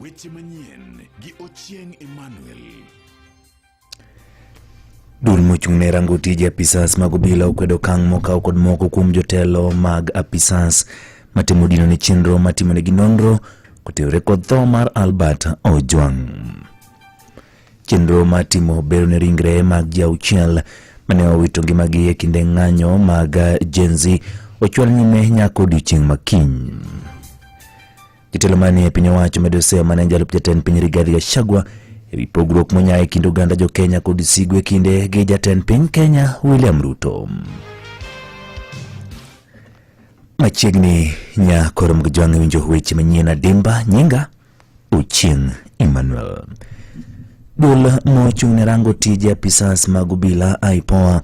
Weche manyien gi Ochieng Emmanuel. Duol mochung' ne rango tije apisas mag obila okwedo okang' mokaw kod moko kuom jotelo mag apisas matimo dino ne chenro matimonegi nonro kotenore kod tho mar Albert Ojwang'. Chenro mar timo bero ne ringre mag ji auchiel mane owito ngimagi e kinde ng'anyo mag Gen Z ochwal nyime nyaka odiechieng' makiny. Jatelo manie piny owacho medo seyo mane jalup jatend piny Rigathi Gachagua e wi pogruok monya e kind oganda jo Kenya kod sigu e kinde gi jatend piny Kenya William Ruto. Machiegni nya koro mgijwang'e winjo weche manyien adimba nyinga Ochieng Emmanuel. Duol mochung' ne rango tije apisas mag obila IPOA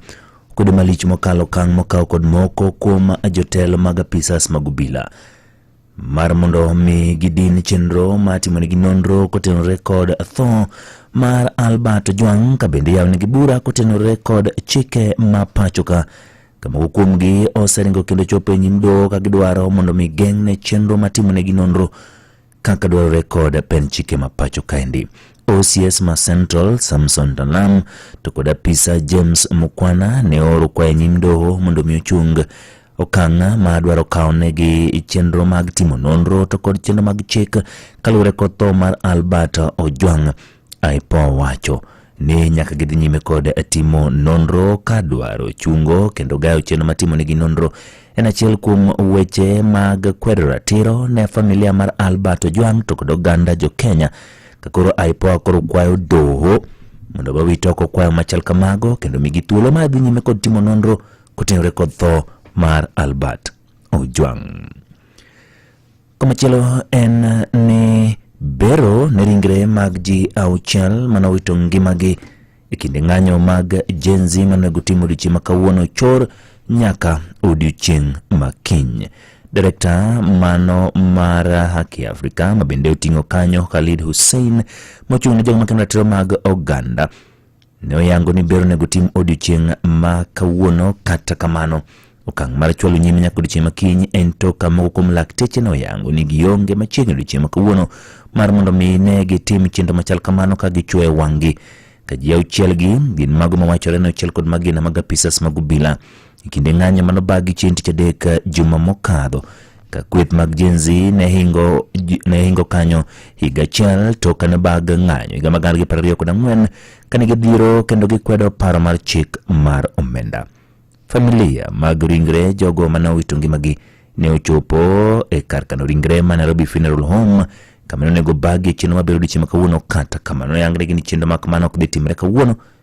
kwedo malich mokalo okang' mokaw kod moko kuom jotelo mag apisas mag obila mar mondo mi gidin chenro ma timonegi nonro kotenore kod tho mar Albert Ojwang' ka bende yawnegi bura kotenore kod chike ma pachoka ka moko kuomgi oseringo kendo chopo e nyim doho ka gidwaro mondo mi geng'ne chenro ma timonegi nonro kaka dwarore kod pen chike ma pacho kaendi. OCS ma Central Samson Talam to kod apisa James Mukwana ne ooro kwa e nyim doho mondo mi ochung okang' ma dwaro kawo negi chenro mag timo nonro to kod chenro mag chik kaluwore kod tho mar Albert Ojwang' IPOA wacho ni nyaka gidhi nyime kod timo nonro ka dwaro chungo kendo gayo chenro matimo nigi nonro en achiel kuom weche mag kwedo ratiro ne familia mar Albert Ojwang to kod oganda jo Kenya ka koro IPOA koro kwayo doho mondo wawit oko kwayo machal kamago kendo migi thuolo mar dhi nyime kod timo nonro kotenore kod tho mar Albert Ojwang. Komachielo en ni bero ne ringre mag ji auchiel mane owito ngimagi e kinde ng'anyo mag Gen Z manego tim odiochieng' ma kawuono chor nyaka odiochieng' ma kiny. Direkta mano mar Haki Afrika mabende oting'o kanyo Khalid Hussein mochung' ne jogo makendo ratiro mag oganda ne oyango ni ber onego tim odiochieng' ma kawuono kata kamano okang' mar chwalo nyime nyaka odiochieng' ma kiny en to ka moko kuom lakteche ne oyango ni gionge machiegni odiochieng' ma kawuono mar mondo mi ne gitim chenro machal kamano ka gichuoyo wang'gi ka ji auchiel gi gin mago mawachore ni ochiel kod magina mag apisas mag obila E kinde ng'anyo mano bagi chieng' tich adek eh, juma mokadho ka kweth mag Gen Z ne hingo, ji- ne hingo kanyo higa achiel to kane bag ng'anyo higa magana gi piero ariyo kod ang'wen kane gidhiro kendo gikwedo paro mar chik mar omenda. Familia mag ringre jogo mane owito ngimagi ne ochopo e kar kano ringre ma Nairobi Funeral Home kama ne onego bagi e chenro mabiro odiechieng' ma kawuono kata kamano ne yangnegi ni chenro ma kamano ok dhi timre kawuono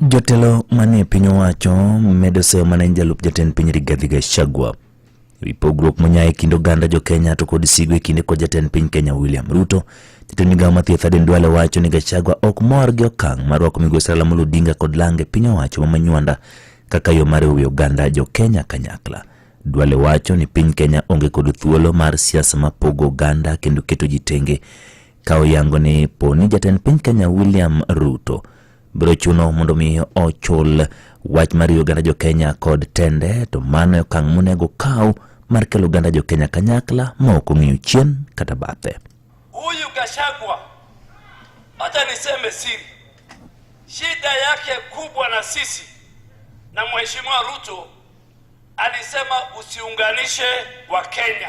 Jotelo manie piny owacho medo seyo mana en jalup jatend piny Rigathi Gachagua ewi pogruok monya e kind oganda jo Kenya to kod sigo e kinde kod jatend piny Kenya William Ruto. Jatend migawo ma thieth Aden Duale wacho ni Gachagua ok mor gi okang' mar rwako migosi Raila Amolo Odinga kod lange piny owacho ma Manywanda kaka yo mar riwo oganda jo Kenya kanyakla. Duale wacho ni piny Kenya onge kod thuolo mar siasa ma pogo oganda kendo keto ji tenge ka oyango ni po ni jatend piny Kenya William Ruto biro chuno mondo mi ochul wach mar riwo oganda jo Kenya kod tende to mano e okang' monego kaw mar kelo oganda jo Kenya kanyakla ma ok ong'iyo chien kata bathe. Huyu Gachagua hata niseme siri, shida yake kubwa na sisi na mheshimiwa Ruto alisema usiunganishe wa Kenya.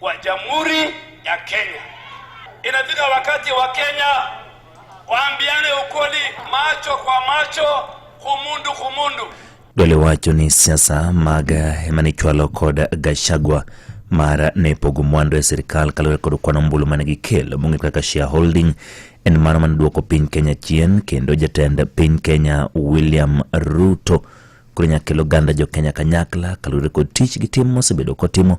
wa Jamhuri ya Kenya. Inafika wakati wa Kenya waambiane ukweli, macho kwa macho, kumundu kumundu. Dole wacho ni siasa mag emanichwalo kod Gachagua mar ne pogo mwandu e sirkal kaluwore kod kwan ombulu mane gikelo mong'e kaka shareholding en mano mane duoko piny Kenya chien kendo jatend piny Kenya William Ruto koro nyaka kel oganda jo Kenya kanyakla kaluwore kod tich gi tim mosebedo kotimo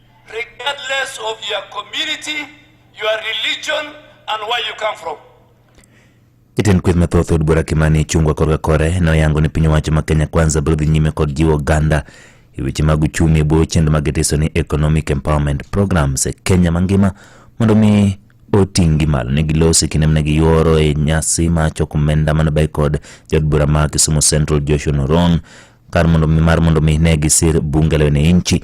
regardless of your community, your religion and where you come from. Jatend kweth mathoth od bura Kimani Ichung'wa korka kore noyango ni piny owacho ma Kenya Kwanza biro dhi nyime kod jiwo oganda e weche mag uchumi e bwo chenro ma gitiso ni Economic Empowerment Programs e Kenya mangima mondo mi oting'gi malo ne gilosi kinde mane giyuoro e nyasi ma choko omenda mane bay kod jod bura ma Kisumu Central Joshua Noron kar mondo mi mar mondo mi ne gisir bunge leo ne inchi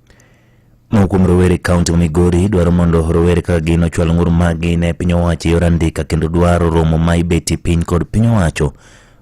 Moko kuom rowere kaunti ma Migori dwaro mondo rowere kaka gin ochwal ng'ur maggi ne piny owacho e yor andika kendo dwaro romo ma ibeti piny kod piny owacho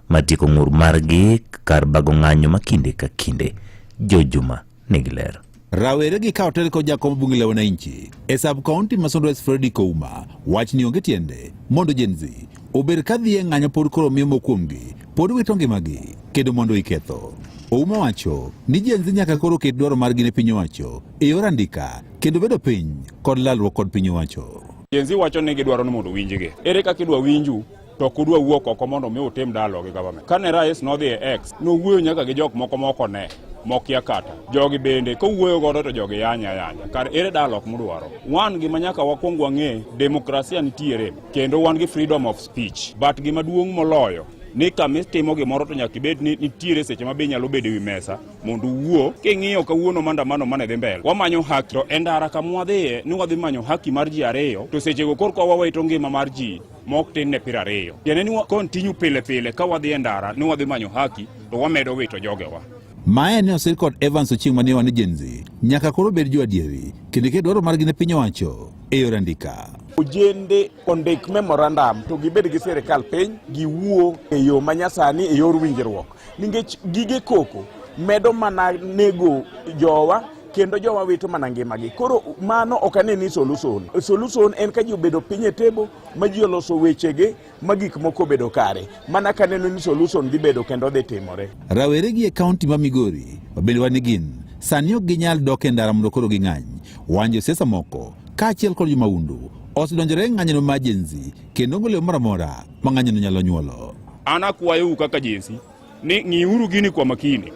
ma tieko ng'ur margi kar bago ng'anyo ma kinde ka kinde. Jo Juma nigi ler. Rawere gi kawo teko jakom bunge la wananchi e sub county ma Sundwe Freddy Kouma wach ni onge tiende mondo Gen Z obed ka dhi e ng'anyo pod koro miyo mokuomgi pod wito ngimagi kedo mondo iketho. Ouma wacho ni jenzi nyaka koro ket dwaro margi ne piny owacho e yor andika kendo bedo piny kod lalruok kod piny owacho. Jenzi wacho ni gidwaro ni mondo winjgi. Ere kaka idwa winju to ok udwa wuok oko mondo mi utim dalo gi government. Kane rais nodhi e X, nowuoyo nyaka gi jok moko moko ne mokia kata jogi bende kowuoyo godo to jogi yanya yanya kar ere dalo ok mudwaro wan gima nyaka wakwong wang'e demokrasia nitiere Kendo wan gi freedom of speech, but gima duong' moloyo ni kama itimo gimoro to nyaka ibed ni nitiere seche ma be nyalo bedo e wi mesa mondo uwuo king'iyo kawuono mandamano mane dhi mbele wamanyo haki to e ndara kama wadhiye ni wadhi manyo haki mar ji ariyo to sechego korka wawito ngima mar ji mok tin ne piero ariyo tiende ni kontinyu pile pile ka wadhi e ndara ni wadhi manyo haki to wamedo wito jogewa Mae ne osir kod Evans Ochieng' ma ne wan e Gen Z. Nyaka koro bed jo adieri, kendo ket dwaro margi ne piny owacho. eyor andika. Ojende ondik memorandum to gibed gi sirkal piny giwuo e yo ma nyasani e yor winjruok nikech gige koko medo mana nego jowa kendo jowa wito mana ngimagi koro mano ok ane ni solution solution en ka ji obedo piny e table ma ji oloso wechegi ma gik moko obedo kare mana ka neno ni solution dhi bedo kendo dhi timore. Rawere gi e kaunti ma Migori ma bende wan gin sani ok ginyal dok e ndara mondo koro ging'any. Wan josiasa moko kaachiel kod jomahundu osedonjore e ng'anyono ma jenzi kendo onge leo moro amora ma ng'anyono nyalo nyuolo. An akwayou kaka jenzi ni ng'iuru gini kwa makini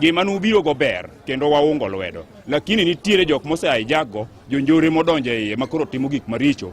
gima nubiro go ber kendo waungo lwedo lakini nitiere jok mose hijack go jonjore modonjo e iye makoro timo gik maricho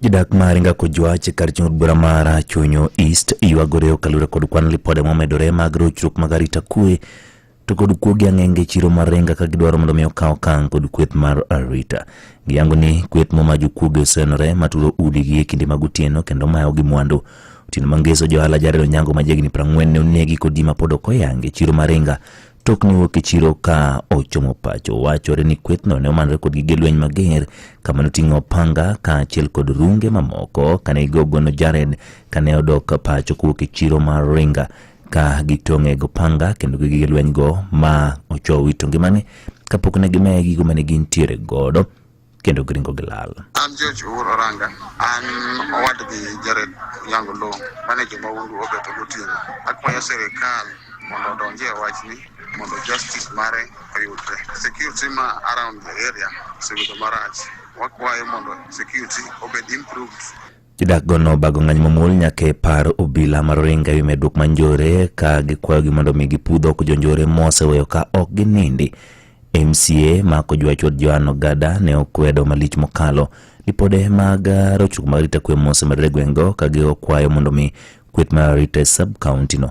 Jodak ma Aringa Kojwach e kar chung od bura mar Chunyo East ywagore okalure kod kwan lipode momedore mag rochruok mag arita kwe to kod kuogi ang'enge chiro mar Aringa ka gidwaro mondo mi okaw okang' kod kweth mar arita. Giyango ni kweth moma jokuoge osenore maturo udigi e kinde mag otieno kendo mayo gi mwandu. Otieno mangeso johala Jared Onyango ma jahigni prang'wen ne onegi kod ji mapod ok oyangi chiro mar Aringa Tok ne wuok e chiro ka ochomo pacho. Wachore ni kwethno ne omanore kod gige lweny mager kama noting'o panga kaachiel kod runge mamoko kane igogono Jared kane odok pacho kowuok e chiro mar Ringa ka gitong'e go panga kendo gi gige lweny go ma ochowi to ngimane kapok ne gimeya gigo mane gintiere godo kendo gringo gi lal. An George Owuor Oranga, an owadgi Jared Yango Lo, mane joma wuondu obeto gotieno. Akwayo sirikal mondo odonji e wachni mondo justice mare oyudre. Security ma around the area osebedo marach. Wakwayo mondo security obed improved. Jodakgo nobago ng'anyo mamuol nyaka e paro obila mar Oringa ewi medruok mar njore ka gikwayogi mondo omi gipudh oko jonjore moseweyo ka ok ginindi. MCA mako jwachwad Joan Ogada ne okwedo malich mokalo lipode mag rochruok mag arita kwe mosemedore e gweng'go ka gikwayo mondo omi kweth mar arita e sub-kauntino.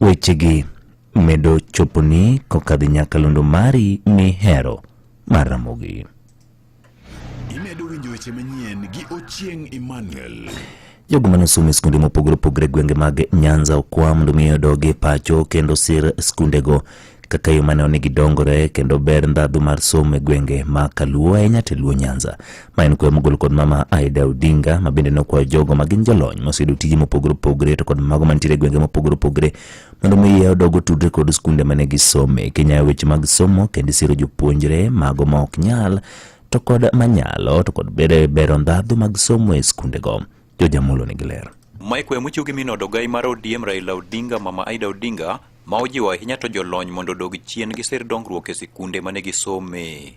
Wechegi medo choponi kokadhi nyakalondo mari mihero mar Ramogi. Imedo winjo weche manyien gi Ochieng' Emmanuel. Jogo mane osomo e skunde mopogore opogore e gwenge mag Nyanza okwa mondo mi odog e pacho kendo sir skundego kaka yo mane onego gidongore kendo ber ndhadhu mar somo e gwenge ma Kaluo ahinya to e Luo Nyanza. Ma en kwayo mogol kod mama Aida Odinga ma bende nokwayo jogo ma gin jolony moseyudo tije mopogore opogore to kod mago mantiere e gwenge mopogore opogore Mondo mi iye odog otudre kod skunde mane gisome, Kenya weche mag somo kendo isiro jopuonjre mago ma ok nyal to kod manyalo to kod bere bero ndhadhu mag somo e skundego. Jojamolo nigi ler. Mike Wemuchugi min od ogai mar ODM Raila Odinga Mama Aida Odinga ma ojiwo ahinya to jolony mondo odog chien gi sir dongruok e sikunde mane gisome.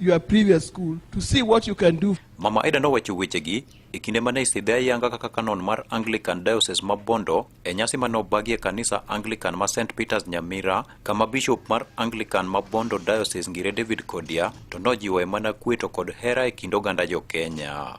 your previous school to see what you can do. Mama Aida nowacho wechegi e kinde ma ne isidhe ayanga kaka kanon mar Anglican Diocese ma Bondo e nyasi ma nobagie kanisa Anglican ma St Peters Nyamira kama bishop mar Anglican ma Bondo Diocese Ngire David Kodia to nojiwoe mana kweto kod hera e kind oganda jo Kenya.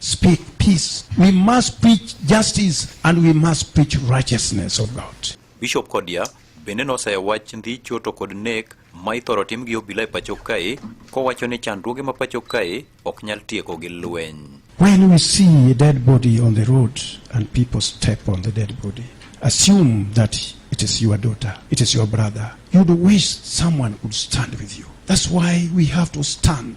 Speak peace. We must preach justice and we must preach righteousness of God. Bishop Kodia bende nosayo wach ndhicho to kod nek ma ithoro tim gi obila e pacho kae kowacho ni chandruoge ma pacho kae ok nyal tieko gi lweny. When we see a dead body on the road and people step on the dead body, assume that it is your daughter, it is your brother. You'd wish someone could stand with you. That's why we have to stand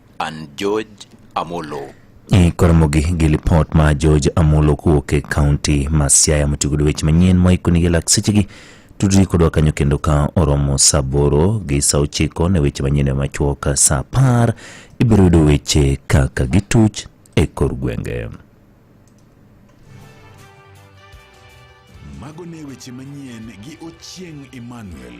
and George Amolo. E koromogi gi lipot ma George Amolo kowuok e kaunti ma Siaya motiyo kod weche manyien moikonigi lak sechegi tudri kodwa kanyo kendo ka oromo saa aboro gi saa ochiko ne weche manyien machuok saa apar ibiro yudo weche kaka gituch e kor gwenge. Mago ne weche manyien gi Ochieng' Emmanuel.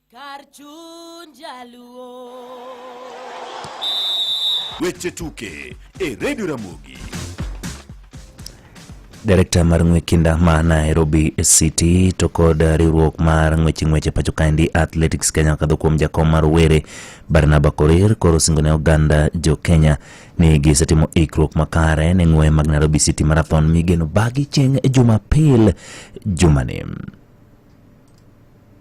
Kar chuny jaluo. Weche tuke e redio Ramogi. Direkta mar ng'we kinda ma Nairobi City to kod riwruok mar ng'weche ng'weche pacho kaendi Athletics Kenya kadho kuom jakom mar were Barnaba Korir koro singo ne oganda jo Kenya ni gisetimo ikruok makare ne ng'we mag Nairobi City Marathon migeno bagi chieng' Jumapil jumani.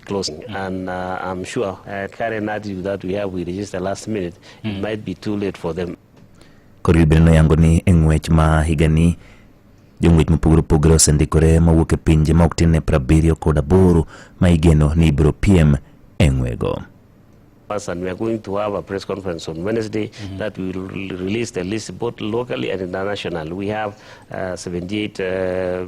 closing. And uh, I'm sure uh, current attitude that we have, we register last minute, mm. it might be too late for them. Koro gibiro noyango ni e ng'wech ma higani jong'wech mopogore opogore osendikore mawuok e pinje ma ok tin ne prabiriyo kod aboro ma igeno ni ibiro piem e ng'wego. us and we are going to have a press conference on Wednesday mm -hmm. that we will release the list both locally and internationally. We have uh, 78 uh,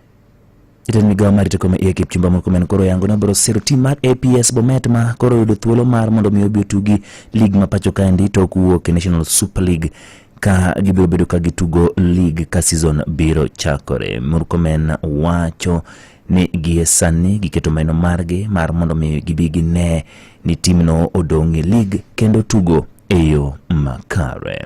Jatend migawo mar teko maiye Kipchumba Murkomen koro yango ni obiro siro tim mar APS Bomet ma koro oyudo thuolo mar mondo mi obi otugi lig ma pacho kaendi to ok wuok e National Super League ka gibiro bedo ka gitugo lig ka season biro chakore. Murkomen wacho ni gie sani giketo meno margi mar mondo mi gibi gine ni timno odong' e lig kendo tugo e yo makare.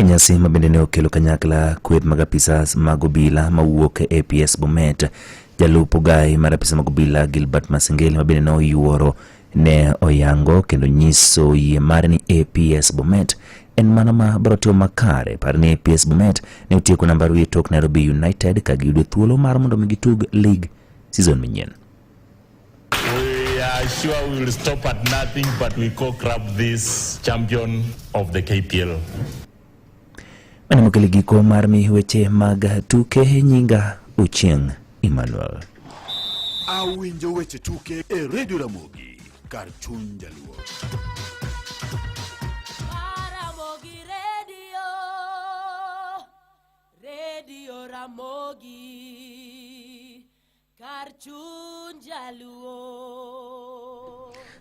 E nyasi ma bende ne okelo kanyakla kweth mag apisas mag obila mawuok e APS Bomet, jalup ogayi mar apisa mag obila Gilbert Masengeli ma bende ne oyuoro ne oyango kendo nyiso yie mare ni APS Bomet en mano ma biro timo makare. Par ni APS Bomet ne otieko namba ariyo e tok Nairobi United ka giyudo thuolo mar mondo mi gitug lig season manyien. We are sure we will stop at nothing but we go grab this champion of the KPL. Mane mokele giko mar mi weche mag tuke nyinga Ochieng Emmanuel. Awinjo weche tuke e Radio Ramogi kar chuny jaluo. Ramogi Radio, Radio Ramogi. Kar chuny jaluo.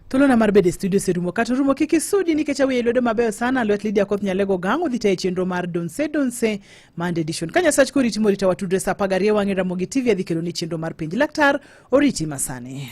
Thuolona mar bedo e studio oserumo kata orumo kik isudi nikech awiye lwedo mabeyo sana lwet Lydia Koth Nyalego Gang odhi tayo chenro mar Donse Donse Monday edition. Ka Nyasach koriti morita watudre sa apar gariyo wang'e Ramogi TV adhi keloni chenro mar penj laktar oriti masani.